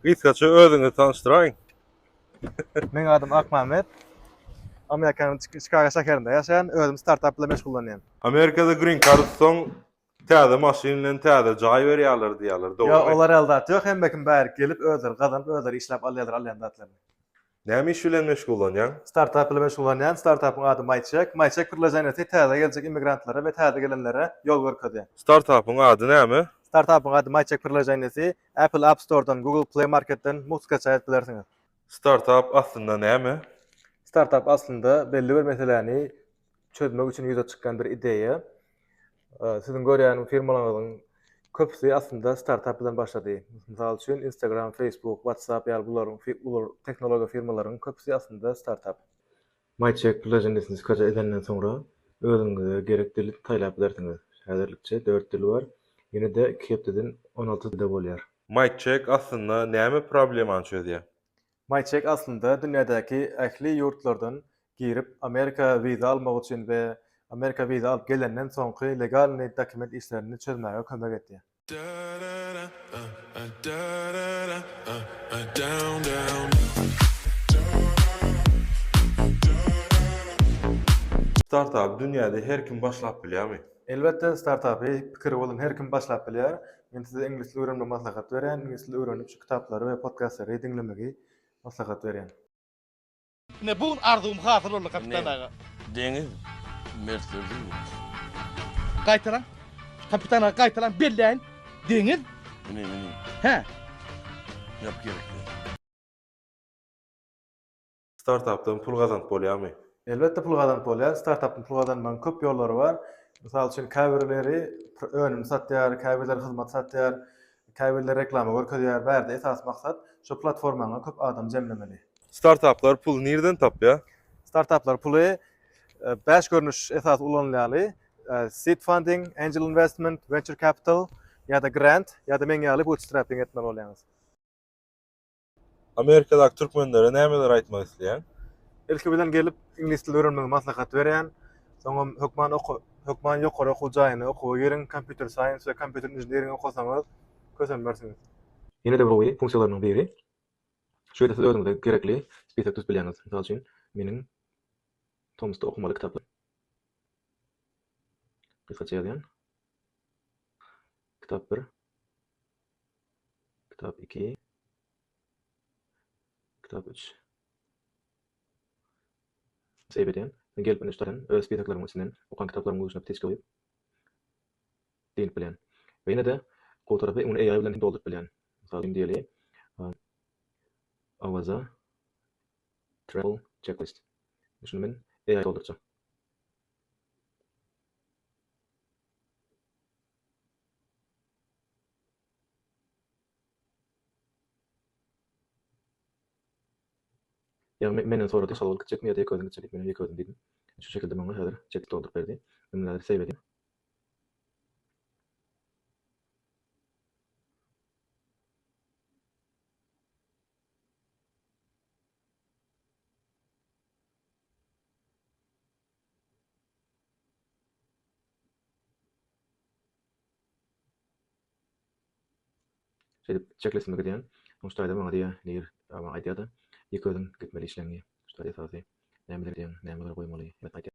Gysgaça özüňizi tanyşdyraýyň. Meň adym Akmämmet. Amerikanyň Çikago şäherinde ýaşaýan, özüm startap bilen meşgullanýan. Amerikada green card utsaň täze maşyn bilen täze jaý berýärler diýýärler dogrymy? Ýok olar ýaly zat ýok hemmekim bärik gelip özleri gazanyp özleri işläp alýarlar alýan zatlaryny. Näme iş bilen meşgullanýaň? Startap bilen meşgullanýan, startapyň ady MyCheck. MyCheck priloženiýasy täze geljek immigrantlara we täze gelenlere ýol görkezýär. Startapyň ady näme? Startapyň ady MyCheck priloženiýasy Apple App Store-dan, Google Play Market-den mugt skaçaý edip bilersiňiz. Startap aslynda näme? Startap aslynda belli bir meseläni çözmek üçin ýüze çykýan bir ideýa. Siziň görýän firmalaryňyzyň köpüsi aslynda startap bilen başlady. Mysal üçin, Instagram, Facebook, WhatsApp ýaly bularyň uly tehnologiýa firmalarynyň köpüsi aslynda startap. MyCheck plyajyny diskreçe edenden soňra, özüňize gerek dili saýlap bilersiňiz. Häzirlikçe dört dil bar, ýene-de iki hepdeden on alty dilde bolýar. MyCheck aslynda näme problemany çözýär? Maýçek aslynda dünýädäki ähli ýurtlardan girip Amerika wiza almak üçin we Amerika wiza alyp gelenden soňky legalnyý dokument işlerini çözmäge kömek edýär. Startapy dünýäde her kim başlap bilýärmi? Elbetde startapy pikiri bolan her kim başlap bilýär. Men size iňlis dili öwrenmegi maslahat berýän, iňlis dili öwrenip şu kitaplary we podkastlary diňlemegi maslahat berýän. Ine bu gün arzuwym hasyl boldy kapitan aga. Ine deňiz mertlerdir ýurt. Gaýtalaň kapitan aga gaýtalaň belläýin deňiz. Ine ine. Hä. Ýap gerekli. Startapdan pul gazanyp bolýarmy? Elbetde pul gazanyp bolýar. Startapdan pul gazanmagyň köp ýollary bar. Mysal üçin, käbirleri önüm satýar, käbirleri hyzmat satýar, käbirleri reklama görkezýär. Bärde esasy maksat şo platformaňa köp adam jemlemeli. Startaplar puly nireden tapýar? Startaplar puly bäş görnüş esasy ulanylýaly, seed funding, angel investment, venture capital ýa-da grant ýa-da meň ýaly bootstrapping etmeli bolýaňyz. Amerikadaky türkmenlere nämeler aýtmak isleýäň? Ilki bilen gelip iňlis dili öwrenmegi maslahat berýän. Soňam hökman oka hökman ýokary okuw jaýyna okuwa giriň, kompýuter saýens we kompýuter inžiniring okasaňyz kösenmersiňiz. Ýene-de bir oýy, funksiýalarynyň biri, şu ýerde siz özüňize gerekli spisok düzüp bilýäňiz. Mysal üçin, meniň tomusda okamaly kitaplar. Gysgaça ýazýan. Kitap bir. Kitap iki. Kitap üç. Seýip edýän. Gelip indi üstadan öz spesaklarymyň içinden okan kitaplaryň guşuna bitiş goýup dynip bilýän. We ýene-de gowy tarapy ony AI bilen hem dolduryp bilýän. Mysal üçin diýeli, Awaza travel checklist. Şuny men AI doldurjak. Ýagny menden sorady, Şal bolup gitjekmi ýa-da ýeke özüň gitjek diýip, men hem ýeke özüm diýdim. Şu şekilde maňa häzir çeklik dolduryp berdi. Indi häzir save edýän. Şeýdip, çekleşime gidýän. Soň şu taýda maňa diýýä, Nir, Awa aýdýa-da, ýeke özüň gitmeli işleňňi. Şu taý esasy. Nämeler edýäň, nämeleri goýmaly, hemmesini aýdýa.